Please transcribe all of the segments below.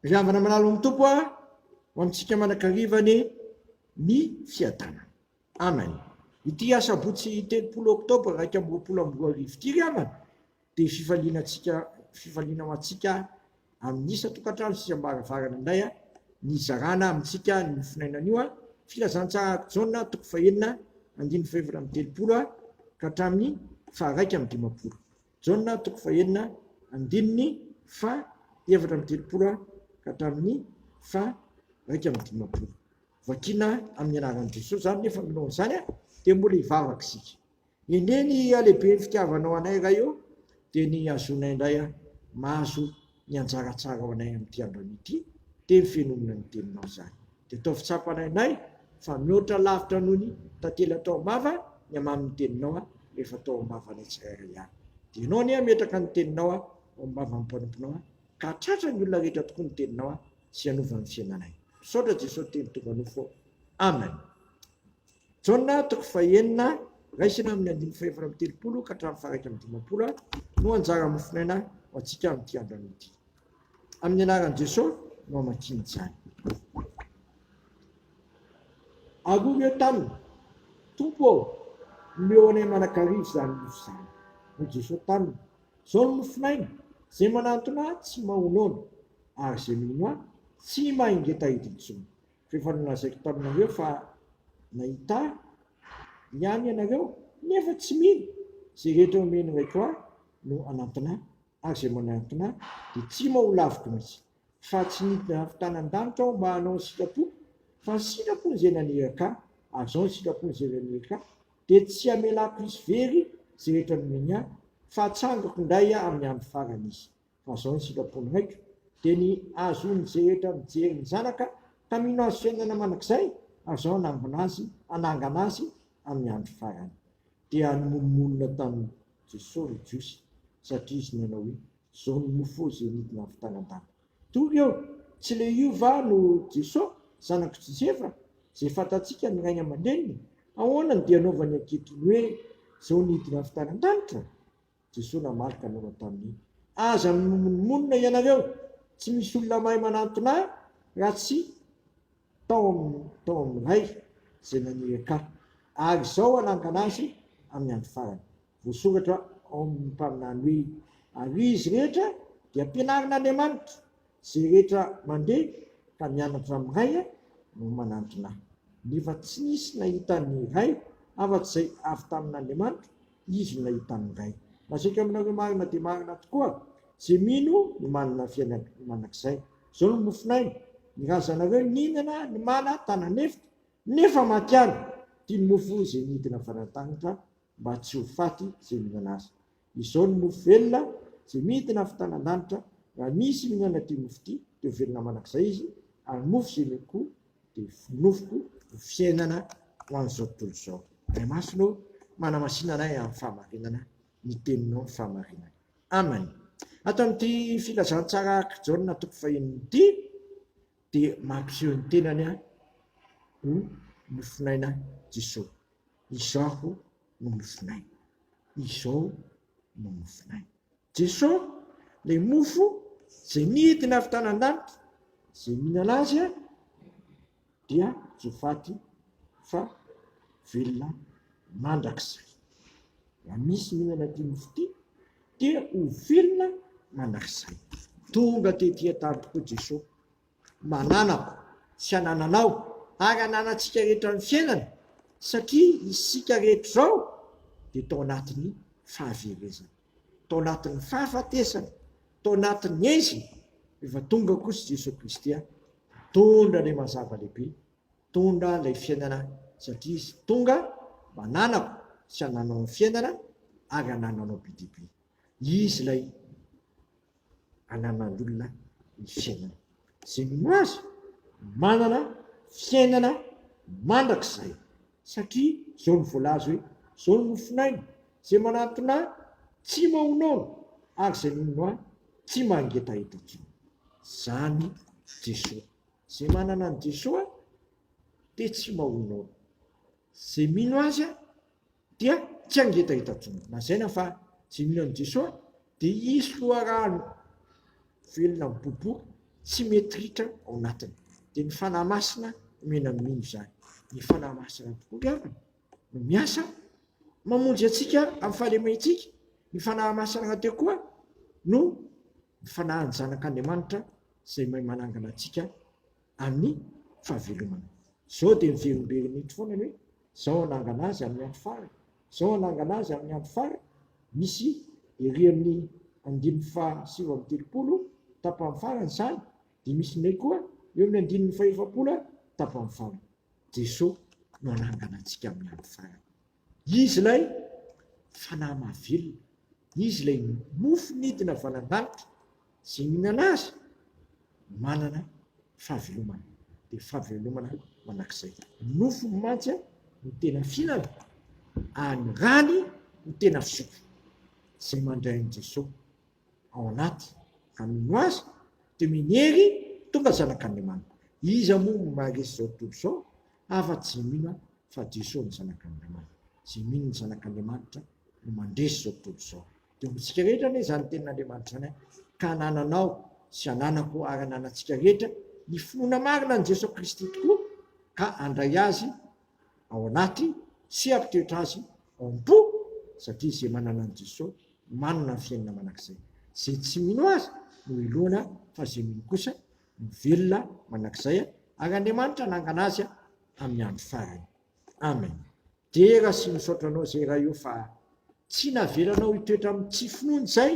Ry havana malala amin'ny Tompo ah, ho amintsika manankarivany ny fiadanana. Amen. Ity asabotsy telopolo oktobra iraika amby roapolo amby roa arivo ity ry havana dia fifaliana antsika fifaliana ho antsika amin'ny isan-tokantrano sy isam-baravarana indray ah, ny zarana amintsika ny mofinainana io ah, filazantsara ato Jaona toko fahenina andininy fahefatra amby telopolo ah, ka hatramin'ny faharaika amby dimampolo. Jaona toko fahenina andininy faha efatra amby telopolo ka hatramin'ny faha iraika amby dimampolo. Vakina amin'ny anaran'i Jesoa izany nefa milohan'izany dia mbola hivavaka isika. Anie ny halehiben'ny fitiavanao anay Ray ô dia ny hazoanay indray mahazo ny anjara tsarao anay amin'ity andronay ity, dia ny fenonana ny Teninao izany. Dia ataovy tsapanay anay fa mihoatra lavitra noho ny tantely atao am-bava ny hamamin'ny Teninao rehefa atao am-bavanay tsirairay avy. Dia Ianao anie hametraka ny Teninao ao am-bavan'ny mpanomponao, ka hahatratra ny olona rehetra tokoa ny Teninao sy hanova ny fiainanay. Misaotra Jesosy Teny tonga nofo ô. Amen. Jaona toko fahenina, raisina amin'ny andininy fahefatra amby telopolo ka hatramin'ny faharaika amby dimampolo no anjara mofonaina ho antsika amin'ity andro ity. Amin'ny anaran'i Jesoa no hamakiana izany. Arovy eo taminy, Tompo ô, omeo anay manakariva izany mofo izany. Hoy Jesoa taminy, Izao no mofonaina, izay manantona Ahy tsy maha-onono, ary izay mino Ahy tsy maha-ingeta hiditra intsony. F'efa nolazaiko taminareo fa nahita Ahy ihany ianareo, nefa tsy mino. Izay rehetra omen'ny Raiko Ahy no hanantona Ahy, ary izay manantona Ahy dia tsy ho laviko mihitsy. Fa tsy nidina avy tany an-danitra Aho mba hanao ny sitrapoko, fa ny sitrapon'Izay naniraka Ahy, ary izao ny sitrapon'Izay naniraka Ahy, dia tsy hamelako hisy very izay rehetra nomeny Ahy, fa hatsangako indray amin'ny andro farany izy. fa zao ny sitrapony haiko de ny azony zehetra mijery ny zanaka ka mino azy fiainana mandrakizay ary zao anangona azy anangana azy amin'ny andro farany dia animonomonona tamin'i Jesosy ry Jiosy satria izy nanao hoe zao ny mofo ze nidina avy tany an-danitra Tonga eo, tsy le io va no Jeso, zanak'i Josefa, zay fantatsika ny rainy aman-dreniny, ahoana no dia anaovany ankehitriny hoe zao nidina avy tany an-danitra? Jesoa namaly ka nanao taminy, Aza mimonomonona ianareo, tsy misy olona mahay manantona ahy raha tsy tao amin'ny tao amin'ny Ray izay naniraka ahy, ary izao hanangana azy amin'ny andro farany. Voasoratra ao amin'ny mpaminany hoe, Ary izy rehetra dia ampianarin'Andriamanitra, izay rehetra mandeha ka mianatra amin'ny Ray no manantona ahy. Nefa tsy nisy nahita ny Ray afa-tsy izay avy tamin'Andriamanitra, Izy no nahita ny Ray. Lazaiko aminareo marina dia marina tokoa, Izay mino no manana ny fiainana mandrakizay. Izao no mofon'aina, Ny razanareo nihinana ny mana tana an'efitra, nefa maty ihany. Ity no mofo izay nidina avy any an-danitra, mba tsy ho faty izay mihinana azy. Izao no mofo velona izay midina avy tany an-danitra, Raha misy mihinana ity mofo ity, dia ho velona mandrakizay izy, ary mofo izay miankoho dia fonofiko ny fiainana ho an'izao tontolo izao. Ray Masina ô, manamasina anay amin'ny fahamarinana ny Teninao ny fahamarinana. Amen. Ato amin'ity filazantsara araka i Jaona toko fahiny ity dia mampiseho ny tenany aho ho nofonaina Jesoa. Izaho no nofonaina. Izao no nofonay. Jesosy, ilay mofo izay nidina avy tany an-danitra, izay mihinana azy dia tsy ho faty fa velona mandrakizay. Raha misy mihinana ity mofo ity dia ho velona mandrakizay. Tonga tetỳ an-tany tokoa Jesosy Mananako sy anananao ary ananantsika rehetra ny fiainana satria isika rehetra izao dia tao anatin'ny fahaverezana, tao anatin'ny fahafatesana, tao anatin'ny ezina rehefa tonga kosa Jesoa Kristy mitondra ilay mazava lehibe, mitondra ilay fiainana satria Izy tonga mba ananako sy anananao ny fiainana ary anananao be dia be. Izy ilay ananan'olona ny fiainana. Izay minoa azy manana fiainana mandrakizay satria izao no voalaza hoe izao no mofon'aina, izay manantona ahy tsy mahonono ary izay minono ahy tsy mangetaheta intsony. Izany Jesoa. Izay manana an'i Jesoa dia tsy mahonono. Izay mino azy Dia tsy hangetaheta intsony. Lazaina fa tsy mino an'i Jesoa dia hisy loharano velona miboboka tsy mety ritra ao anatiny. Dia ny Fanahy Masina omena ny mino izany. Ny Fanahy Masina tokoa ry havana no miasa mamonjy antsika amin'ny fahalementsika. Ny Fanahy Masina rahateo koa no ny Fanahin'ny Zanak'Andriamanitra izay mahay manangana antsika. amin'ny fahavelomana. Izao dia miverimberina eto foana ny hoe, izao hanangana azy amin'ny andro farany, izao hanangana azy amin'ny andro farany, misy ery amin'ny andininy faha sivy amby telopolo tapany farany izany, dia misy indray koa eo amin'ny andininy faha efapolo tapany farany. Jesoa no hanangana antsika amin'ny andro farany. Izy ilay Fanahy mahavelona. Izy ilay mofo nidina avy any an-danitra. Izay mihinana Azy manana fahavelomana. Dia fahavelomana mandrakizay. Ny nofony mantsy no tena fihinana, ary ny rany no tena fisotro. Izay mandray an'i Jeso ao anaty ka mino Azy dia minery tonga zanak'Andriamanitra. Iza moa no maharesy izao tontolo izao? Afa-tsy izay mino aho fa Jesoa no Zanak'Andriamanitra, izay mino ny Zanak'Andriamanitra no mandresy izao tontolo izao. Dia ho antsika rehetra anie izany tenin'Andriamanitra izany ka anananao sy ananako ary ananantsika rehetra ny finoana marina an'i Jesoa Kristy tokoa ka handray Azy ao anaty sy hampitoetra Azy ao am-po satria izay manana an'i Jesoa manana ny fiainana mandrakizay. Izay tsy mino Azy no heloina fa izay mino kosa no velona manak'izay ary Andriamanitra hanangana azy amin'ny andro farany. Amen. Dera sy misaotra anao zay Ray o fa tsy navelanao hitoetra amin'ny tsy finoana izay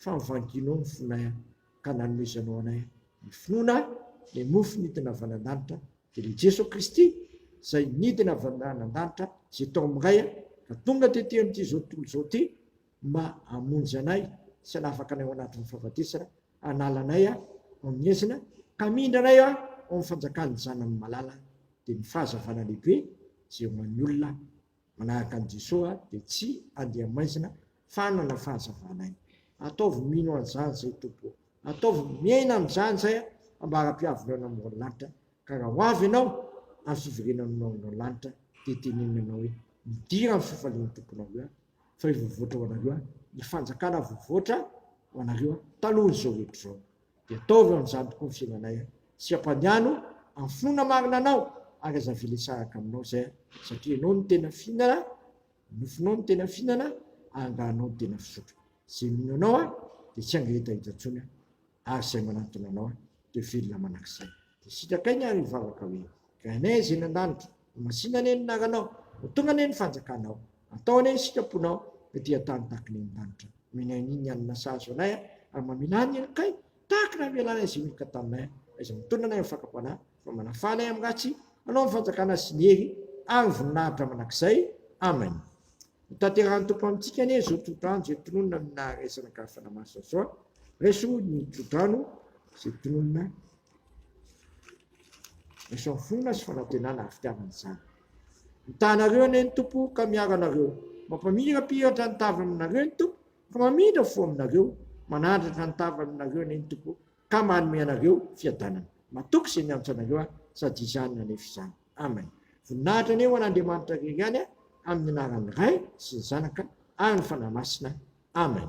fa mivangianao ny fonay ka nanomezanao anay ny finoana ny mofo nidina avy any an-danitra dia ilay Jeso Kristy izay nidina avy any an-danitra izay tao amin'ny Ray ka tonga tety amin'ity izao tontolo izao ity ma hamonjy anay sy hanafaka anay ao anatin'ny fahafatesana, hanala anay ao amin'ny ezina, ka hamindra anay ao amin'ny fanjakan'ny Zanany malala, dia ny fahazavana lehibe izay ho an'ny olona manahaka an'i Jesoa dia tsy handeha maizina fa hanana fahazavana aina. Ataovy mino an'izany izay Tompo ô! Ataovy miaina amin'izany izay a! Ambara-piavinao ny amoron'ny lanitra, ka raha ho avy Ianao amin'ny fiverenanao ao an-doha ny lanitra, dia tenenina Ianao hoe, Midira amin'ny fifalian'ny Tomponao eo aho. fa io voavoatra ho anareo any, ny fanjakana voavoatra ho anareo any, talohan'izao rehetra izao. Dia ataovy amin'izany tokoa ny fiainanay any, sy ampaniano amin'ny finoana marina anao, ary aza avela hisaraka aminao izay any, satria ianao no tena fihinana, ny nofonao no tena fihinana, ary angaha anao no tena fisotro. Izay mino anao dia tsy hangereta eto intsony aho. Ary izay manantona anao dia velona manak'izay. Dia sitraka iny ary hivavaka hoe, Rainay izay any an-danitra, ho masina anie ny anaranao, ho tonga anie ny fanjakanao, atao anie ny sitraponao, dia dia tany tahaka ny any an-danitra no inianiany ny hanina sahaza anay ary mamela ny helokay tahaka ny hamelanay izay nihiloka taminay, izay mitondra anay amin'ny fakam-panahy, fa manafana ahy amin'ny ratsy hanao ny fanjakana sy ny hery ary ny voninahitra mandrakizay. Amena. Ho tanterahan'ny Tompo amintsika anie izao tsodrano izay tononina amin'ny naha-raisana ka fanamasina soa. Raiso ny tsodrano izay tononina raiso amin'ny fonona sy fanantenana ary fitiavana izany. Mitahanareo anie ny Tompo ka miaro anareo. Mampamirapiratra ny tavany aminareo ny Tompo ka mamindra fo aminareo. Manandratra ny tavany aminareo anie ny Tompo Ka manome anareo fiadanana. Matoky izay miantso anareo aho, sady izany no anefa izany. Amen. Voninahitra anie ho an'Andriamanitra irery ihany amin'ny anaran'ny Ray sy ny Zanaka ary ny Fanahy Masina. Amen.